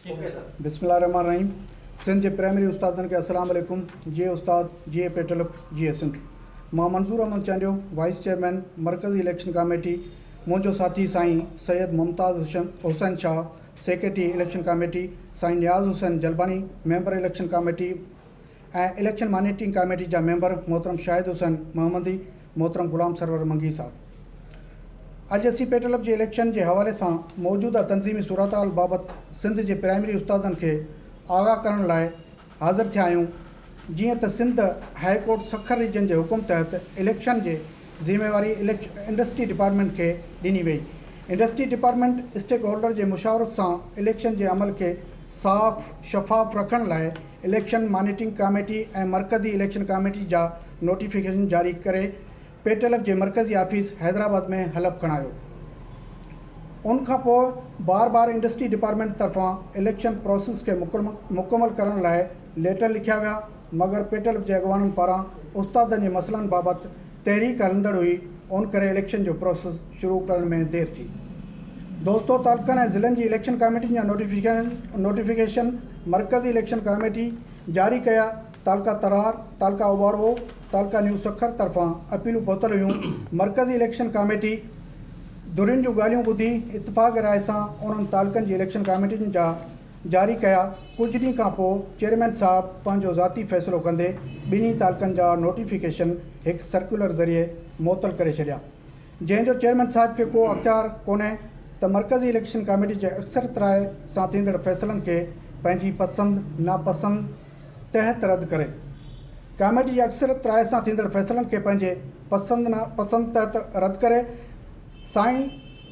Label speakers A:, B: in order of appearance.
A: بسم الله الرحمٰن الرحيم سنڌ جي پرائمري استادن کي السلام عليڪم جي استاد جي اي پي ٽلف جي اي سنڌ مان منظور احمد چانڊيو وائيس چيئرمين مرڪزي اليڪشن ڪاميٽي منهنجو ساٿي سائين Syed Mumtaz Hussain Shah secretary election committee سائين Niaz Hussain Jalbani member election committee ۽ election monitoring committee جا ميمبر محترم شاهد حسين محمدي، محترم غلام سرور منگي صاحب. اڄ اسين پيٽلپ جي اليڪشن جي حوالي سان موجوده تنظيمي صورتحال بابت سنڌ جي پرائمري استادن کي آگاهه ڪرڻ لاء حاضر ٿيا آهيون جيئن ته Sindh high court Sukkur region جي حڪم تحت اليڪشن جي ذميواري انڊسٽري ڊپارٽمينٽ کي ڏني وئي انڊسٽري ڊپارٽمينٽ اسٽيڪ هولڊر جي مشاورت سان اليڪشن جي عمل کي صاف شفاف رکڻ لاء اليڪشن مانيٽرنگ ڪاميٽي ۽ مرڪزي اليڪشن ڪاميٽي جا نوٽيفڪيشن جاري ڪري پيٽلف جي مرڪزي آفيس حيدرآباد ۾ حلف کڻايو ان کان پوء بار بار انڊسٽري ڊپارٽمينٽ طرفان اليڪشن پراسيس کي مڪمل ڪرڻ لاء ليٽر لکيا ويا مگر پيٽلف جي اڳواڻن پاران استادن جي مسئلن بابت تحريڪ هلندڙ هئي ان ڪري اليڪشن جو پراسيس شروع ڪرڻ ۾ دير ٿي. دوستو تعلقن ۽ ضلعن جي اليڪشن ڪاميٽين جا نوٽيفڪيشن مرڪزي اليڪشن ڪاميٽي جاري ڪيا تعلقه ترهار، تعلقه اوباروو، تعلقه نيو سکر طرفان اپيلون پهتل هيون مرڪزي اليڪشن ڪاميٽي ڌرين جون ڳالهيون ٻڌي اتفاق راء سان انهن تعلقن جي اليڪشن ڪاميٽين جا جاري ڪيا، ڪجهه ڏينهن کان پوء چيئرمين صاحب پنهنجو ذاتي فيصلو ڪندي ٻنهي تعلقن جا نوٽيفڪيشن هڪ سرڪيولر ذريعي معطل ڪري ڇڏيا، جنهن جو چيئرمين صاحب کي ڪو اختيار ڪونهي ته مرڪزي اليڪشن ڪاميٽي جي اڪثريت راء سان ٿيندڙ فيصلن کي پنهنجي پسند ناپسند تحت رد ڪري. ڪاميٽي جي اڪثريت راء سان ٿيندڙ فيصلن کي پنهنجي پسند ناپسند تحت رد ڪري سائين